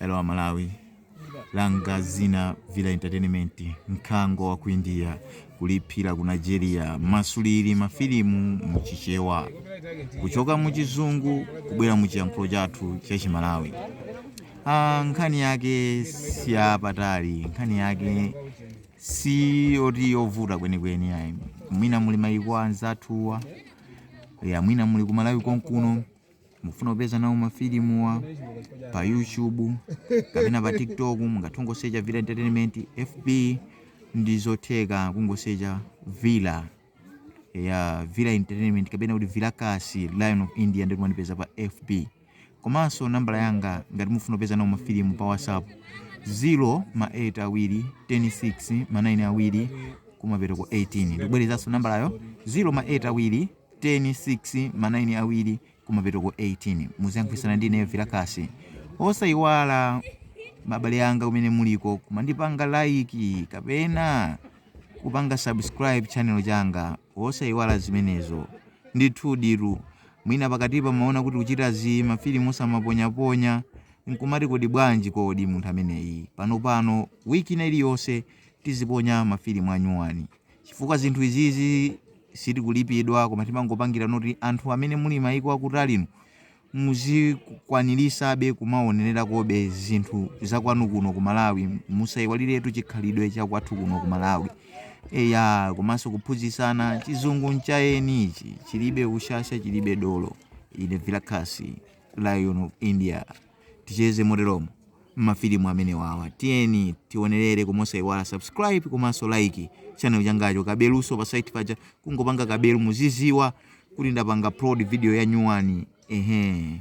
Hello Malawi, langa zina Villa Entertainment, mkango wa ku India kulipira ku Nigeria, masuliri mafilimu mu Chichewa kuchoka mu Chizungu kubwera mu chiyankhulo chathu cha Chimalawi. Ah, nkhani yake si yapatali, nkhani yake si yoti yovuta kwenikweni ayi. Mwina muli mayiko anzathuwa, ya mwina muli ku Malawi konkuno mufuna kupeza nawo mafilimuwa pa youtube kapena pa tiktok mungathe kungosecha villa entertainment fb ndi zotheka kungosecha villa ya villa entertainment kapena kuti vilakasi lion of india ndi kumandipeza pa fb komanso nambala yanga ngati mufuna kupeza nawo mafilimu pa whatsapp 0 ma 8 awiri 106 ma 9 awiri kumapetoko 18 ndikubwerezanso nambalayo 0 ma 8 awiri 10, 6, ma 9 awiri kumapetoko 18. Muziyankhulana ndi ineyo Vilakasi. Osaiwala abale anga kumene muliko kumandipanga like kapena kupanga subscribe channel changa. Osaiwala zimenezo. Ndithuditu mwina pakatipa mumaona kuti kuchita za mafilimu osamaponyaponya nkumati kodi bwanji kodi munthu ameneyi. Panopano wiki ina iliyonse tiziponya mafilimu anyuwani. Chifukwa zinthu izizi sitikulipidwa koma timangopangira noti anthu amene muli maiko akutali inu muzikwaniritsabe kumaonelerakobe zinthu zakwanu kuno ku Malawi musaiwaliretu chikhalidwe chakwathu kuno ku Malawi eyaa komanso kuphunzitsana chizungu ncha eni ichi chilibe ushasha chilibe dolo ine Vilakasi lion of India. ticheze moteromo mmafilimu amenewawa tiyeni tionerere koma osaiwala subscribe komanso like channel changacho kabeluso pa side paja kungopanga kabelu muziziwa kuti ndapanga upload video ya nyuwani ehe